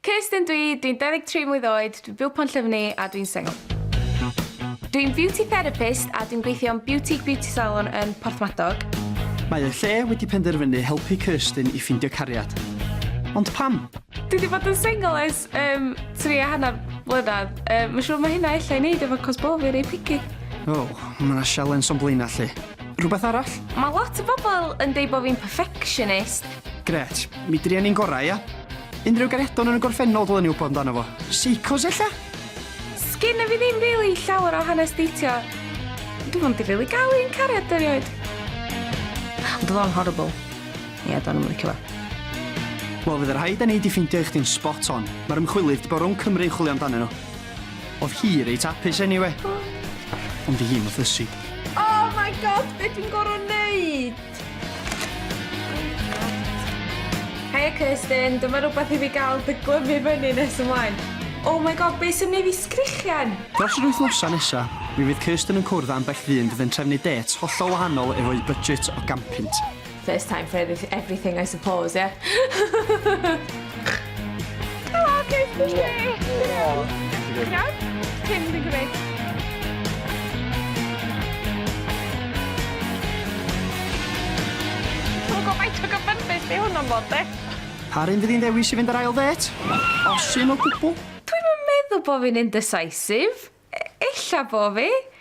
Kirsten dw i, dwi'n 23 mlwydd oed, dwi'n byw Pontllyfni a dwi'n sengl. Dw i'n Beauty Therapist a dwi'n gweithio yn Beautique Beauty Salon yn Porthmadog. Mae y lle wedi penderfynu helpu Kirsten i ffindio cariad. Ond pam? Dwi wedi bod yn sengl ers um, tri a hanner blynedd. Um, Mae'n siŵr mae hynna efallai wneud efo cos bod fi rei picky. O, oh, mae yna sialens o'n blaenau lle. Rhywbeth arall? Mae lot o bobl yn dweud bod fi'n perfectionist, Gret. Mi druan ni'n gorau, ia? Unrhyw garedon yn y gorffennol dylen ni wybod amdano fo. Seicos ella? Sgynna fi ddim rili llawer o hanes deitio. Dwi ond di rili gael un cariad erioed. Ond oedd o'n horrible. Ie, do'n i'm yn licio fo. Wel, fydd yr rhaid â ni di ffeindio i chdi'n spot on. Mae'r ymchwilydd di bod rhwng Cymru'n chwilio amdanyn nhw. Oedd hi reit apus anyway. Ond di hi'n mathysu. Oh my god, be dwi'n gorau neud? Heia Kirsten, dyma rhywbeth i fi gael dy glymu fyny nes ymlaen. Oh my god, be sy'n mynd i fi sgrichian? Dros yr wythnosau nesa, mi fydd Kirsten yn cwrdd â ambell ddyn fydd yn trefnu dêts hollol wahanol efo'u budget o gampynt. First time for everything I suppose, ie? Helo, beth ti'n gwneud? Ti'n iawn? Ti'n dwi'n gwneud. Dwi'n gofaith o gyfynbys fi hwn o'n fod, de? Par un fydd hi'n ddewis i fynd ar ail ddêt? Os un o gwbl? Dwi'm yn meddwl bo fi'n indecisive. Ella bo fi.